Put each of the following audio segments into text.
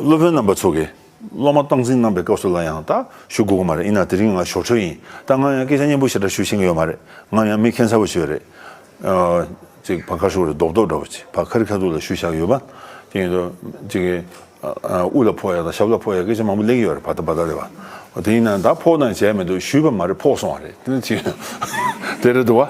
སློབ་དཔོན་རྣམ་པ་ཚོ་གིས་སློབ་མ་སྟངས་འཛིན་གནང་པའི་སྐབས་སུ་ལ་ཡང་དག་ཞུ་དགོས་ཀྱི་མ་རེད་ཡིན་ན་དེ་རིང་ང་ཞོར་འཕྲོས་ཡིན་ད་ང་ཡང་སྐད་ཆ་སྙན་པོ་ཞེ་དྲག་ཞུ་ཤེས་ཀྱི་ཡོད་མ་རེད་ང་ཡང་མི་ཁེངས་ཚར་བ་ཞིག་རེད། ཅིག་བ་ཁ་ཤོར་རེད་རྡོག་རྡོག་འདྲ་བ་ཅིག་བ་ཁ་རི་ཁ་ཐུག་ལ་ཞུ་བཞག་ཡོད་པ། དེ་ཡིན་དུས་ཅིག་དབུ་ལ་ཕོག་ཡ་དང་ཞབས་ལ་ཕོག་ཡ་སྐད་ཆ་མང་པོ་གླེང་གི་ཡོད་རེད་བ་ད་བ་ད་རེད་བ། དེ་ཡིན་ན་ད་ཕོག་དང་བྱས་མི་འདུག་ཞུས་པ་མ་རེད་ཕོག་སོང་བ་རེད་དེ་ནི་ཅིག་དེ་རེད་འདུག་བ།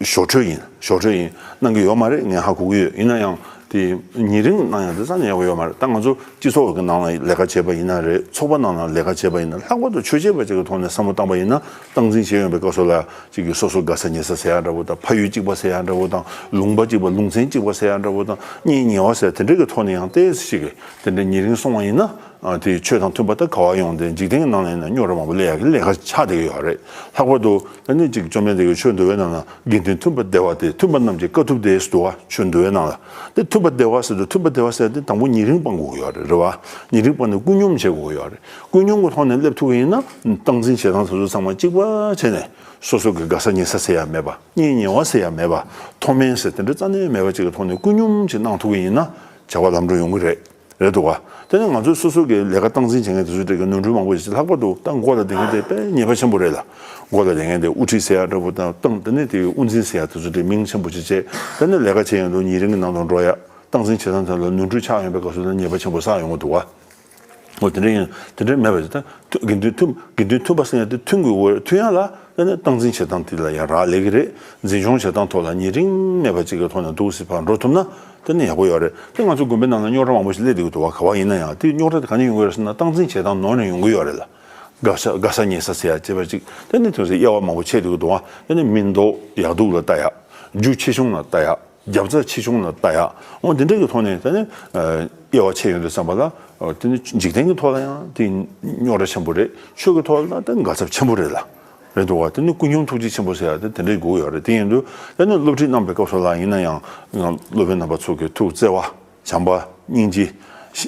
ཞོར་འཕྲོས་ཡིན་ཞོར་འཕྲོས་ཡིན་གནང་གི་ཡོད་མ་རེད་ངས་ཧ་གོ་གི་ཡོད་ཡིན་ན་ཡང་དེ་ཉིན་རིང་གནང་ཡང་དེ་ཙམ་ཡག་པོ་ཡོད་མ་རེད་ད་ང་ཚོ་སྤྱི་ཚོགས་ཀྱི་ནང་ལ་ལས་ཀ་བྱེད་པ་ཡིན་ན་རེད་ཚོགས་པ་ནང་ལ་ལས་ཀ་བྱེད་པ་ཡིན་ན་ལྷག་པར་དུ་ཆོས་བྱེད་པ་ཅིག་གི་ཐོག་ནས་བསམ་བློ་བཏང་པ་ཡིན་ན་སྟངས་འཛིན་བྱེད་ཡོང་པའི་སྐབས་སུ་ལ་གཅིག་གིས་སོ་སོ་དགའ་ས་ཉེ་ས་ཟེར་ཡག་འདྲ་བོ་དང་ཕ་ཡུལ་གཅིག་པ་ཟེར་ཡག་འདྲ་བོ་དང་ལུང་པ་གཅིག་པ་ལུང་ཚན་གཅིག་པ་ཟེར་ཡག་འདྲ་བོ་དང་གཉེན་ཉེ་བ་ཟེར་དེ་འདྲ་གི་ཐོག་ནས་ཡང་ལྟས་ཤིག་གིས་དེ་འདྲ་ཉིན་རིང་སོང་བ་ཡིན་ན་དེ་ཆོས་དང་མཐུན་པ་ལྟར་ག་བ་ཡོང་དེ་འཇིག་རྟེན་གྱི་ནང་ལ་ཡིན་ན་སྨྱོ་ར་མང་པོ་ལས་ཡག་གི་ལས་ཀ་ཆགས་བསྡད་ཀྱི་ཡོད་རེད་ལྷག་པར་དུ། སྣོད་ཅིག་བཅོམ་ལྡན་འདས་ཀྱིས་ཆོས་འདུལ་བའི་ནང་ན་དགེ་འདུན་འཐུན་པ་བདེ་བ་སྟེ་འཐུན་པ་རྣམས་ཀྱིས་དཀའ་ཐུབ་དེ་ཟློ་བ་ཆོས་འདུལ་བའི་ནང་ལ་དེ་འཐུན་པ་བདེ་བ་ཟེར་དུ་འཐུན་པ་བདེ་བ་ཟེར་ཏེ་དང་པོ་ཉིན་རིང་སྤང་དགོས་ཀྱི་ཡོད་རེད་རེད་བ་ཉིན་རིང་སྤང་ནས་ཀུན་སྙོམས་བྱེད་དགོས་ཀྱི་ཡོད་རེད་ཀུན་སྙོམས་ཀྱི་ཐོག་ནས་སླེབས་ཐུབ་ཀྱི་ཡིན་ན་སྟངས་འཛིན་བྱེད་སྟངས་དེ་ཚོ་ཚང་མ་གཅིག་པ་བྱས་ནས་སོ་སོ་གི་དགའ་ས་ཉེ་ས་ཟེར་ཡ་མེད་པ་གཉེན་ཉེ་བ་ཟེར་ཡ་མེད་པ་མཐོ་དམན་ཟེར་དེ་འདྲ་རྩ་ནས་མེད་པ་ཅིག་གི་ཐོག་ནས་ཀུན་སྙོམས་བྱེད་གནང་ཐུབ་ཀྱི་ཡིན་ན་བྱ་བ་ལམ་འགྲོ་ཡོང་གི་རེད། རེད་འདུག་དེ་ནི་ང་ཚོས་སོ་སོ་གིས་ལས་ཀ་སྟངས་འཛིན་བྱེད་མཁན་དེ་ཚོའི་གྲས་ཀྱི་ནོར་འཁྲུལ་མང་པོ་ཞིག་ལྷག་པར་དུ་ཏང་མགོ་ལ་འདེད་མཁན་དེ་དཔེ་ངེས་པ་ཆེན་པོ་རེད་ལ། མགོ་ལ་འདེད་མཁན་དེ་དབུ་ཁྲིད་སེ་ཡ་འདྲ་བོ་དང་ཏང་ལྟེ་གནས་དེའི་དབུ་འཛིན་སེ་ཡ་དེ་ཚོ་དེ་མིང་ཆེན་པོ་ཆེ་བཅས་དཔེར་ན་ལས་ཀ་བྱས་ཡོང་དུས་ཉིན་རེ་འགའི་ནང་དུ་འགྲོ་ཡ་སྟངས་འཛིན་བྱེད་སྟངས་དེ་ལ་ནོར་འཁྲུལ་ཆགས་ཡོང་པའི་དགའ་བསུ་དང་ཉེས་པ་ཆེན་པོ་བསགས་ཡོང་གི་འདུག་ངོ། དེ་འདྲ་ཡིན་དེ་འདྲ་མེད་པ་དེ་དགེ་འདུན་ཐུབ་དགེ་འདུན་ཐུབ་པ་སེ་ཡ་དེ་ཐུན་གྱི་འོས་ཐུན་ཡ་ལ་ལྟེ་གནས་སྟངས་འཛིན་བྱེད་སྟངས་དེ་ལ་ཡང་རག་ལས་ཀྱི་རེད་འཛིན་སྐྱོང་བྱེད་སྟངས་ཐོག་ལ་ཉེ་རིང་མེད་པ་ཅིག་གི་ཐོག་ནས་འདུག་སེ་བར་འགྲོ་ཐུབ་ན། དེ་ནི་ཡག་པོ་ཡོད་རེད་དེ་ང་ཚོའི་དགོན་པའི་ནང་ན་རྙོག་དྲ་མང་པོ་ཞིག་སླེབས་བསྡད་ཀྱི་འདུག་བ་ག་བ་ཡིན་ན་ཡང་དེ་རྙོག་དྲ་དེ་ག་ནས་ཡོང་གི་རེད་ཟེར་ན་སྟངས་འཛིན་བྱེད་སྟངས་ནོར་ནས་ཡོང་གི་ཡོད་རེད་ལ། དགའ་ས་དགའ་ས་ཉེ་ས་ཟེར་ཡག་ཅེས་པ་ཅིག་དེ་ནི་དོན་སེ་དབྱེ་བ་མང་པོ་བྱས་བསྡད་ཀྱི་འདུག་བ་དེ་ནི་མིན་འདུག་ཡག་སྡུག་ལ་ལྟ་ཡག་རྒྱུ་ཆེ་ཆུང་ལ་ལྟ་ཡག་རྒྱབ་རྩ་ཆེ་ཆུང་ལ་ལྟ་ཡག་འོང་དེ་འདྲ་གྱི་ཐོག་ནས་དེ་ནི་དབྱེ་བ་ཕྱེ་ཡོང་རེད་བསམ་པ་ལ་དེ་ནི་འཇིག་རྟེན་གྱི་ཐོག་ལ་ཡང་དེ་རྙོག་དྲ་ཆེན་པོ་རེད་ཆོས་ཀྱི་ཐོག་ལ་ཡང་དེ་དགའ་ཚབ་ཆེན་པོ་རེད་ལ། རེད་འདུག་བ་དེ་ནི་སྐུ་མཆོང་ཐུགས་རྗེ་ཆེན་པོ་ཟེར་ཡག་དེ་དེ་འདྲའི་སྒུག་ཡག་རེད་དེ་ཡིན་དུས་དེ་ནི་སློབ་ཁྲིད་གནང་པའི་སྐབས་སུ་ལ་ཡིན་ན་ཡང་སློབ་དཔོན་རྣམ་པ་ཚོ་གི་ཐུགས་བརྩེ་བ་བྱམས་པ་སྙིང་རྗེ་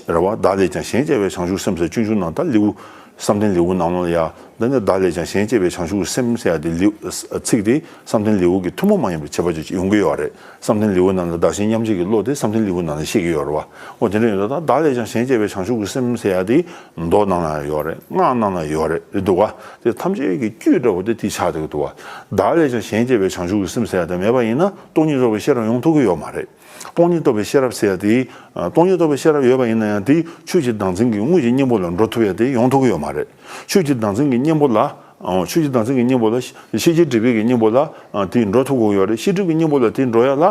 རེད་བ་བདག་ལས་ཀྱང་གཞན་གཅེས་པའི་བྱང་ཆུབ་སེམས་ཟེར་སྤྱོད་འཇུག་ནང་ད་ལེའུ་བསམ་གཏན་ལེའུ་ནང་ལོ་ཡ་འདི་ནི་བདག་ལས་ཀྱང་གཞན་གཅེས་པའི་བྱང་ཆུབ་སེམས་ཟེར་ཡག་དེ་ལེའུ་ཚིག་དེ་བསམ་གཏན་ལེའུ་གི་ཐུན་མོང་མ་ཡིན་པའི་ཁྱད་པར་ཅིག་ཡོང་གི་ཡོད་རེད། བསམ་གཏན་ལེའུ་རྣམས་ལ་བདག་གཞན་མཉམ་བརྗེ་གི་བློ་དེ་བསམ་གཏན་ལེའུ་ནང་ནས་ཤེས་ཀྱི་ཡོད་རེད་བ། འོ་དེ་འདྲ་ཡོད་ད་ད་བདག་ལས་ཀྱང་གཞན་གཅེས་པའི་བྱང་ཆུབ་ཀྱི་སེམས་ཟེར་ཡ་དེ་མདོ་རྣམས་ལའང་ཡོད་རེད་སྔགས་རྣམས་ལའང་ཡོད་རེད་རེད་འདུག་བ། དེ་ཐམས་ཅད་ཀྱི་དཀྱུས་འདྲ་བོ་དེ་དེ་ཆགས་འདུག་འདུག་བ། བདག་ལས་ཀྱང་གཞན་གཅེས་པའི་བྱང་ཆུབ་ཀྱི་སེམས་ཟེར་ཡ་དེ་མེད་པ་ཡིན་ན་སྟོང་ཉིད་རྫོགས་པའི་ཤེས་རབ་ཡོང་ཐུབ་ཀྱི་ཡོད་མ་རེད། སྟོང་ཉིད་རྟོགས་པའི་ཤེས་རབ་ཟེར་ཡ་དེ། སྟོང་ཉིད་རྟོགས་པའི་ཤེས་རབ་ཡོད་པ་ཡིན་ན་ཡང་དེ་ཆོས་ཀྱི་བདག་འཛིན་གྱི་དངོས་ཀྱི་སྙིང་པོ་ལ་འགྲོ་ཐུབ་ཡ་དེ་ཡོང་ཐུབ་ཀྱི་ཡོད་མ་རེད། ཆོས་ཀྱི་བདག་འཛིན་གྱི་གཉེན་པོ་ལ། ཆོས་ཀྱི་བདག་འཛིན་གྱི་གཉེན་པོ་ལ། ཤེས་བྱའི་སྒྲིབ་པའི་གྱི་གཉེན་པོ་ལ། དེའི་འགྲོ་ཐོབ་གང་ཡོད་རེ་ཤིག་སྒྲིབ་ཀྱི་གཉེན་པོ་ལ་དེའི་འགྲོ་ཡོད་ལ།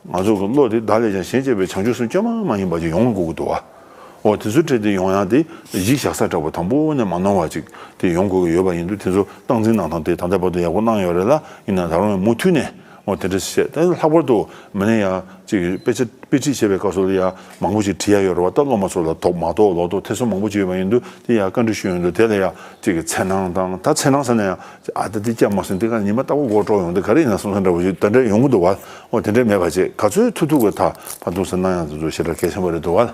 ང་ཚོ་གི་བློ་དེ་བདག་ལས་ཀྱང་གཞན་གཅེས་པའི་བྱང་ཆུབ་སེམས་བསྐྱེད་མ་མ་ཡིན་པ་ཅིག་ཡོང་དགོས་ཀྱི་འདུག་བ། འོ་དེ་ཚོའི་གྲས་དེ་ཡོང་ཡང་དེ་གཞི་བཞག་ས་དྲག་པོ་དང་པོ་ནས་མ་གནང་བ་ཅིག་དེ་ཡོང་དགོས་ཀྱི་ཡོད་པ་ཡིན་འདུག་དེ་ཚོ་སྟངས་འཛིན་གནང་སྟངས་དེ་ད་ལྟ་བར་དུ་ཡག་པོ་གནང་ཡོད་རེད་ལ་ཡིན་ན་ད་རུང་ཡང་མུ་མཐུད་ནས་ཨོ་དེ་འདྲ་བཤད་ད་ལྷག་པར་དུ་མི་ནས་ཡང་ཅིག་དཔེ་ཆ་དཔེ་ཁྲིད་བྱེད་པའི་སྐབས་སུ་ལ་ཡང་མང་པོ་ཅིག་བྲིས་ཡ་ཡོད་རེད་བ་ད་སློབ་མ་ཚོ་ལ་དོགས་མ་དོགས་ལོག་དོགས་ཐེ་ཚོམ་མང་པོ་ཅིག་ཡོད་པ་ཡིན་དུས་དེ་ཡང་བཀའ་འདྲི་ཞུ་ཡོང་དུས་དེ་ལ་ཡང་ཅིག་འཚེར་སྣང་དང་ད་འཚེར་སྣང་ཟེར་ན་ཡང་ཅིག་ཨ་ད་འདི་སྐྱ་མ་སོན་འདི་ག་ཉི་མ་ལྟ་བུ་མགོ་དཀྲོགས་ཡོང་དུས་ག་རེ་ཡིན་ན་སོང་སོང་འདྲ་བོ་ཅིག་ད་འདྲ་ཡོང་གི་འདུག་བ་ཨོ་དེ་འདྲ་མེད་པ་ཅིག་ག་ཚོད་ཐུག་ཐུག་གི་ད་ཕར་འདུག་ཟེར་སྣང་ཡང་འདུག་ཞེ་དྲག་གལ་ཆེན་པོ་རེད་འདུག་བ།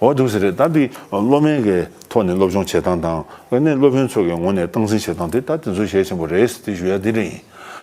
འོ་དུག་ཟེར་རེད་ད་འདི་སློབ་མའི་གི་ཐོག་ནས་སློབ་སྦྱོང་བྱེད་སྟངས་དང་ག་ནས་སློབ་དཔོན་ཚོ་གི་ངོ་ནས་སྟངས་འཛིན་བྱེད་སྟངས་དེ་ད་དེ་ཚོ་གལ་ཆེན་པོ་རེད་ཟེར་དེ་ཞུ་ཡ་དེ་འདྲ་ཡིན།